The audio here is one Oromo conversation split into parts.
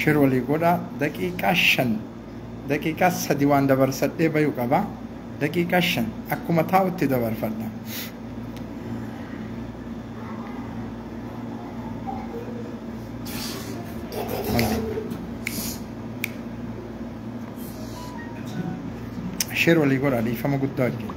Sher walii godhaa daqiiqaa shan daqiiqaa sadi waan dabarsadhee bayu qaba daqiiqaa shan akkuma taa'utti dabarfadha. Sher walii godhaa dhiifama guddaa wajjin.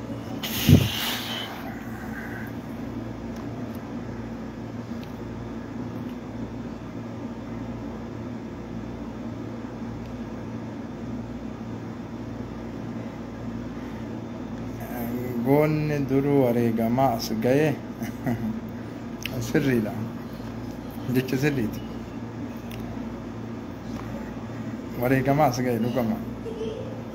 goonni duruu wareegamaa as ga'e sirriidha jecha sirriiti wareegamaa as ga'e dhugama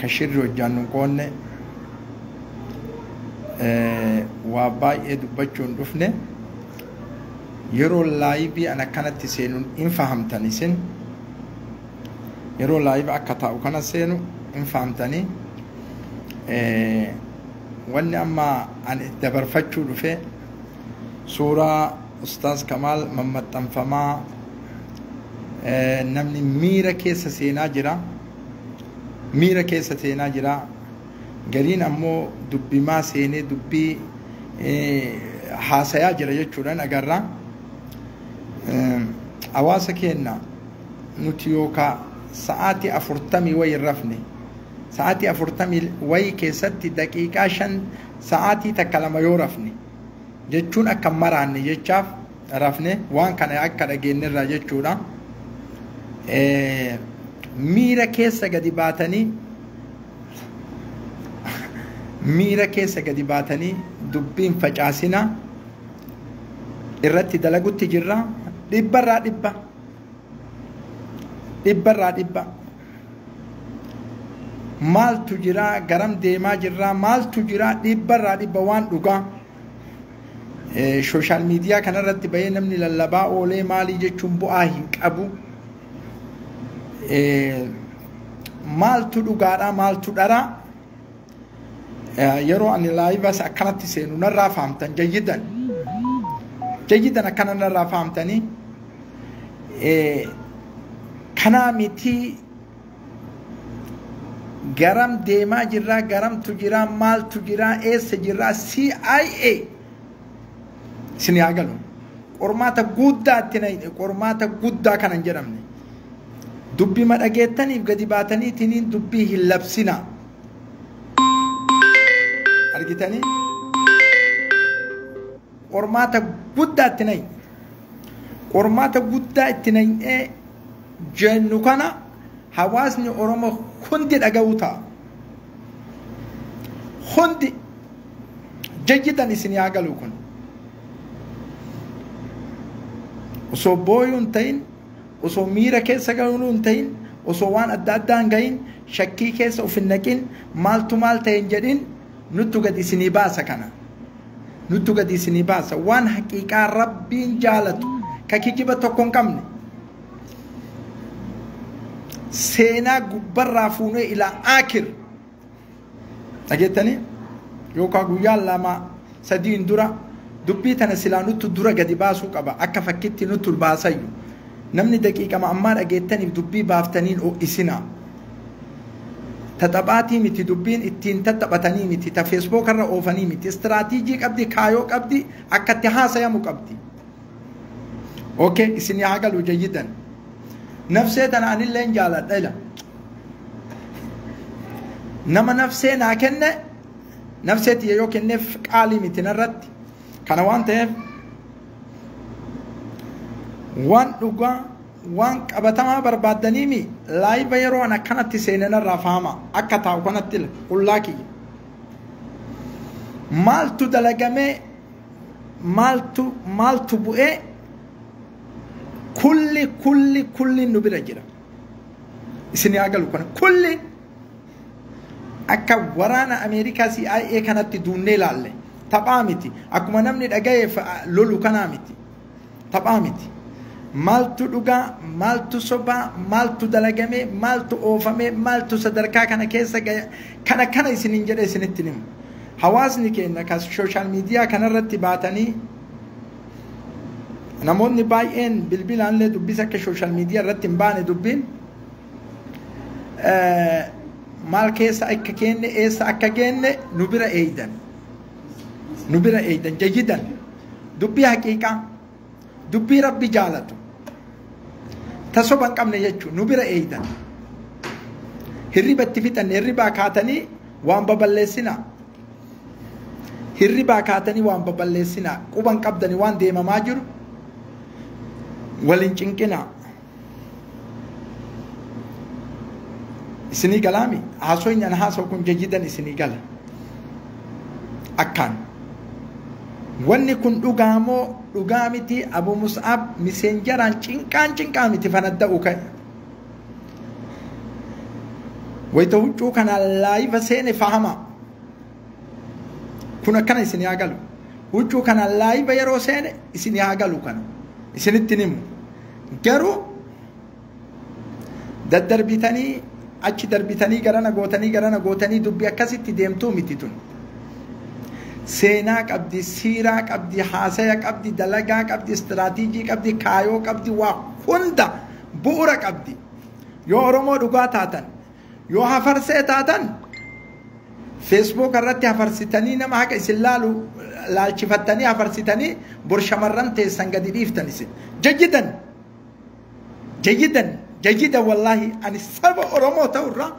ka shirri hojjaan nun qoonne waa baay'ee dubbachuun dhufne yeroo laayibii an akkanatti seenuun hin fahamtan isin yeroo laayiba akka taa'u kana seenu hin fahamtanii wanni amma an dabarfachuu dhufe suuraa ustaaz kamaal mammaxxanfamaa namni miira keessa seenaa jira miira keessa seenaa jira gariin ammoo dubbimaa seenee dubbii haasayaa jira jechuudhaan agarra hawaasa keenna nuti yookaa sa'aatii afurtamii wayi hin rafne sa'aatii afurtamii wayi keessatti daqiiqaa shan sa'aatii takka lama yoo rafne jechuun akka maraanne jechaaf rafne waan kana akka dhageenyerraa jechuudha miira keessa gadi baatanii miira keessa gadi baatanii dubbiin facaasina irratti dalagutti jirra dhibbarraa dhibba dhibbarraa dhibba maaltu jiraa garam deemaa jirraa maaltu jiraa dhibbarraa dhibba waan dhugaa Sooshaal miidiyaa kanarratti bahee namni lallabaa oolee maalii jechuun bu'aa hin qabu. Maaltu dhugaadhaa maaltu dharaa yeroo ani laayivas akkanatti seenu narraa fahamtan jayyidan. Jayyidan akkana narraa fahamtanii kanaa mitii garam deemaa jirraa garamtu jiraa maaltu jiraa eessa jirraa CIA isin yaa galu qormaata guddaa itti na hidhe qormaata guddaa kana hin jedhamne dubbii ma dhageettaniif gadi baataniitiin dubbii hin labsina argitanii Qormaata guddaa itti nayi. Qormaata guddaa itti nayinee jennu kana hawaasni Oromoo hundi dhaga'uu ta'a. Hundi jajjitan isin yaa galu kun. Osoo booyuu hin ta'in, osoo miira keessa galuu hin ta'in, osoo waan adda addaa hin gahin, shakkii keessa of hin naqin, maaltu maal ta'e hin jedhin, nuttu gad isinii baasa kana. nuttu gadi isinii baasa waan haqiiqaa rabbiin jaalatu ka kijiba tokko hin qabne seenaa gubbarraa fuunee ilaa aakir dhageettanii yookaan guyyaa lama sadiin dura dubbii tana silaa nuttu dura gadi baasuu qaba akka fakkitti nuttu baasayyu namni daqiiqama ammaa dhageettaniif dubbii baaftaniin ho'isinaa Ta taphaatii miti dubbiin ittiin tattaphatanii miti ta feesbooka irra oofanii miti istiraatiijii qabdi kaayoo qabdi akka itti haasayamu qabdi. Okay isin yaa galu jayyidan. Nafsee tana anilleen jaaladha ila. Nama nafsee naa kenne nafsee tiyya yoo kenneef qaalii miti narratti kana waan ta'eef waan dhugaa Waan qabatamaa barbaaddanii mii? Laayiva yeroo an akkanatti seene narraa fahamaa. Akka taa'u kanatti la qullaa kiyya. Maaltu dalagamee maaltu maaltu bu'ee kulli kulli kulli nu bira jira. Isin haa galu kana kulli akka waraana Ameerikaa CIA kanatti duunnee laalle taphaa miti. Akkuma namni dhagayeef lolu kanaa miti. Taphaa miti. Maaltu dhugaa, maaltu sobaa, maaltu dalagamee, maaltu oofamee, maaltu sadarkaa kana keessa gaya, kana kana isiniin jedhee isinitti himu. Hawaasni keenya kan sooshaal miidiyaa kanarratti baatanii namoonni baay'een bilbilaallee dubbisa akka sooshaal miidiyaa irratti hin baane dubbiin maal keessa akka keenne eessa akka geenne nu bira eeydan nu bira eeydan jayyidan dubbii haqiiqaa dubbii rabbi jaalatu ta soba hin qabne jechuun nu bira eeydan hirriba itti fixanne hirribaa kaatanii waan baballeessinaa hirribaa kaatanii waan baballeessinaa quban qabdanii waan deemamaa jiru wal hin cinqinaa isinii galaami haasoyni an haasa'u kun jayyidan isinii gala akkaan wanni kun dhugaa moo dhugaa miti abu mus'ab miseenjaraan cinqaan cinqaa miti fanadda'u ka'e wayta huccuu kanaan laayiva seene fahamaa kun akkana isin haa galu huccuu kana laayiba yeroo seene isin haa galu kana isinitti himu garuu daddarbitanii achi darbitanii garana gootanii garana gootanii dubbi akkasitti deemtuu miti tun seenaa qabdi siiraa qabdi haasaya qabdi dalagaa qabdi istiraatiijii qabdi kaayoo qabdi waa hunda bu'ura qabdi yoo oromoo dhugaa taatan Yoo hafarsee taatan feesbuuk irratti hafarsitanii nama haqa isin laalu laalchifattanii hafarsitanii bor shamarran teessan gadi dhiiftan isin. Jajjidan! Jajjidan! Jajjidan wallaahi ani saba Oromoo ta'urraa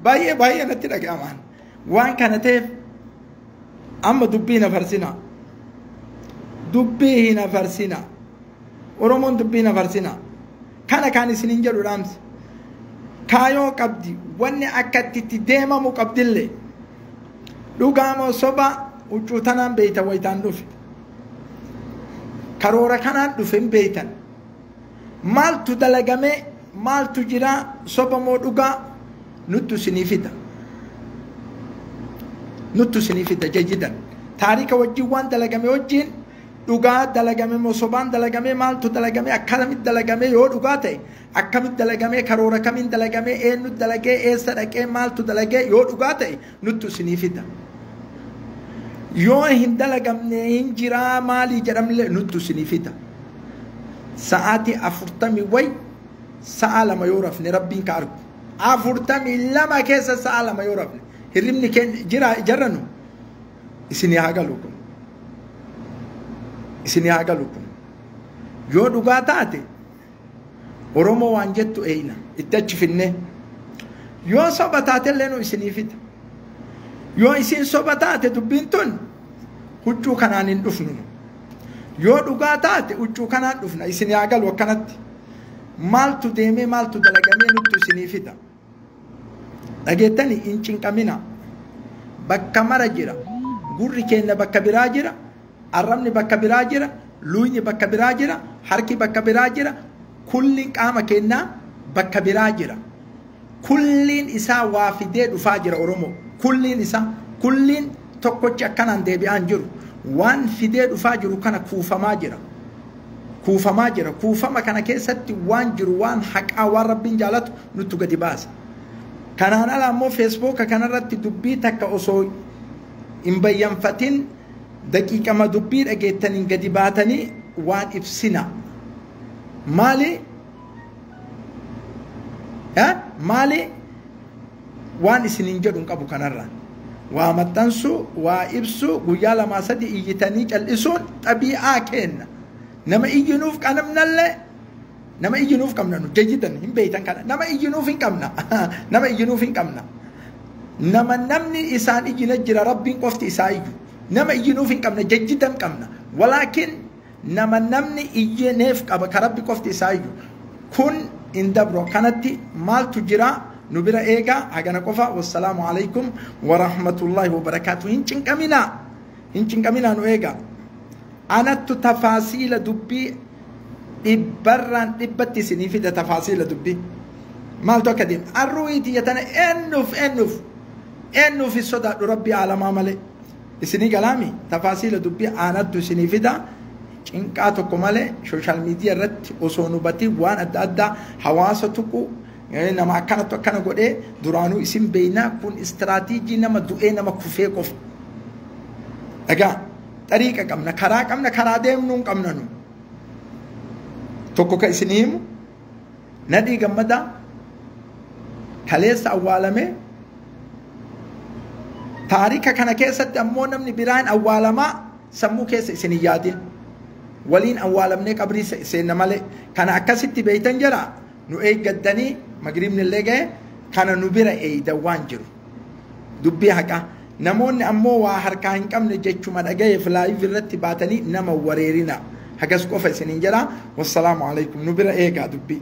baay'ee baay'ee natti dhaga'amaan. Waan kana ta'eef amma dubbii na farsinaa. Dubbii hin hafarsinaa. Oromoon dubbii hin hafarsinaa. Kana kaan isinin jedhu dhaamsa. Kaayoo qabdi wanni akka itti itti deemamu qabdillee. Dhugaa moo soba huccuu tanaan beeytan wayitaan dhufe. Karoora kanaan dhufe hin beeytan. Maaltu dalagamee maaltu jiraa soba moo dhugaa nuttu isinii fida. Nuttu isinii fida jajidan. Taarika wajjin waan dalagame wajjin dhugaa dalagame moo sobaan dalagame maaltu dalagame akkamit dalagame yoo dhugaa ta'e akkamit dalagame karoora kamiin dalagame eenyu dalagee eessa dhaqee maaltu dalagee yoo dhugaa ta'e nuttu isinii fida yoo hin dalagamne hin jiraa maalii jedhamlee nuttu isinii fida sa'aatii afurtamii way sa'a lama yoo rafne rabbiin ka argu afurtamii lama keessa sa'a lama yoo rafne hirribni keenya jira jarranu Isinii haa galu kun. Isinii haa galu kun. Yoo dhugaa taate Oromoo waan jettu eeyna itti achi finnee. Yoo soba taate illee nu isinii fida. Yoo isiin soba taate dubbiin tun huccuu kanaan hin dhufnu. Yoo dhugaa taate huccuu kanaan dhufna isinii haa galu akkanatti. Maaltu deemee maaltu dalagamee nuttu isinii fida. dhageettani hin cinqamina bakka mara jira gurri keenya bakka biraa jira arrabni bakka biraa jira luuyni bakka biraa jira harki bakka biraa jira kulliin qaama keenyaa bakka biraa jira kulliin isaa waa fidee dhufaa jira oromoo kulliin isaa kulliin tokkochi akkanaan deebi'aan jiru waan fidee dhufaa jiru kana kuufamaa jira kuufamaa jira. Kuufama kana keessatti waan jiru waan haqaa waan rabbiin jaalatu nuttu gadi baasa. Kanaan ala ammoo feesbooka kanarratti dubbii takka osoo hin bayyanfatin daqiiqama dubbii dhageettaniin gadi baatanii waan ibsina. Maali? Maali? Waan isiniin jedhu hin qabu kanarra. Waa maxxansuu, waa ibsuu, guyyaa lamaa sadii iyyitanii cal'isuun xabii'aa keenna. Nama iyyinuuf qabnallee nama iyyinuuf qabna nu jayyidan hin beeytan kana nama iyyinuuf hin qabna nama iyyinuuf hin qabna nama namni isaan iyyina jira rabbiin qofti isaa iyyu nama iyyinuuf hin qabna jayyidan qabna walaakin Nama namni iyyee neef qaba ka rabbi qofti isaa iyyu kun hin dabru akkanatti maaltu jira nu bira eega hagana qofa wassalaamu alaykum warahmatullaahi wabarakaatu hin cinqaminaa hin cinqaminaa nu eega anattu tafaasiila dubbii dhibbarraan dhibbatti isinii fida tafaasiila dubbii maaltu akka deema arruuyi tiyya tana eennuuf eennuuf eennuuf hin sodaadhu rabbi aalamaa malee Isinii galaami? Tafaasiila dubbii aanattu isinii fida. Cinqaa tokko malee social media irratti osoo hin hubatiin waan adda addaa hawaasa tuqu nama akkanattu akkana godhee duraanuu isin beeynaa kun istiraatiijii nama du'ee nama kufee qofa. Dhagaa xariiqa qabna karaa qabna karaa deemnuu hin qabna nu. Tokko ka isinii himu Nadhii Gammadaa kaleessa awwaalame taarika kana keessatti ammoo namni biraan awwaalamaa sammuu keessa isin hin yaadin waliin awwaalamnee qabrii seenna malee kana akkasitti beeytan jira nu eeggattanii magriibni illee ga'e kana nu bira eeydan waan jiru dubbii haqaa Namoonni ammoo waa harkaa hin qabne jechuma dhagayeef live irratti baatanii nama hin wareerinaa. Hagas qofa isiniin jedha. Wassalaamu alaikum. Nu bira eegaa dubbii.